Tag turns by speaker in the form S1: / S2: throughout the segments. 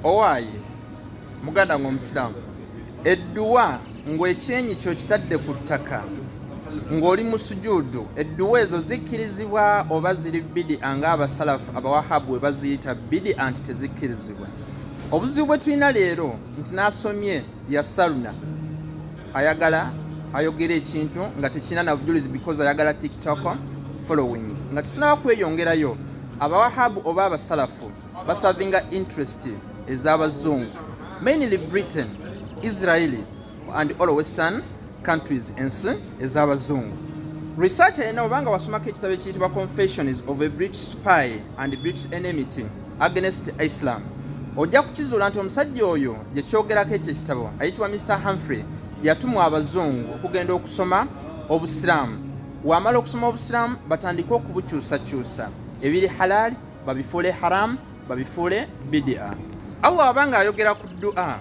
S1: owaaye muganda nga omusiraamu edduwa ng'ekyenyi kyo kitadde ku ttaka ng'oli mu sujuudu edduwa ezo zikkirizibwa oba ziri bidi anga abasalafu abawahabu we baziyita bidi anti tezikkirizibwa obuzibu bwe tulina leero nti n'asomye yasaluna ayagala ayogera ekintu nga tekirina nabujulizi because ayagala tiktok following nga tetunaba kweyongerayo abawahabu oba abasalafu basavinga interest ez'abazungu mainly britain israeli and all western countries ensi ez'abazungu research erina obanga wasomako ekitabo ekiyitibwa confessions of a british spy and british enmity against islam ojja kukizuula nti omusajja oyo gye kyogerako ekyo ekitabo ayitibwa mr humphrey yatumwa abazungu okugenda okusoma obusiraamu wamala okusoma obusiraamu batandike okubukyusakyusa ebiri halaali babifuule haramu babifuule bidia allah abanga ayogera ku dua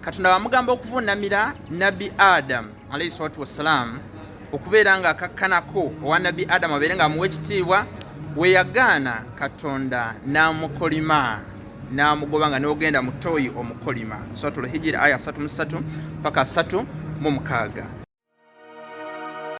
S1: katonda wamugamba okuvuunamira nabbi adamu alaihi salatu wassalaamu okubeera nga akakkanako owa nabbi adamu abeere nga amuwa ekitiibwa weyagaana katonda n'amukolima n'amugoba nga n'ogenda mu toyi omukolima suratul hijiri aya 33 paka 3 mu mukaaga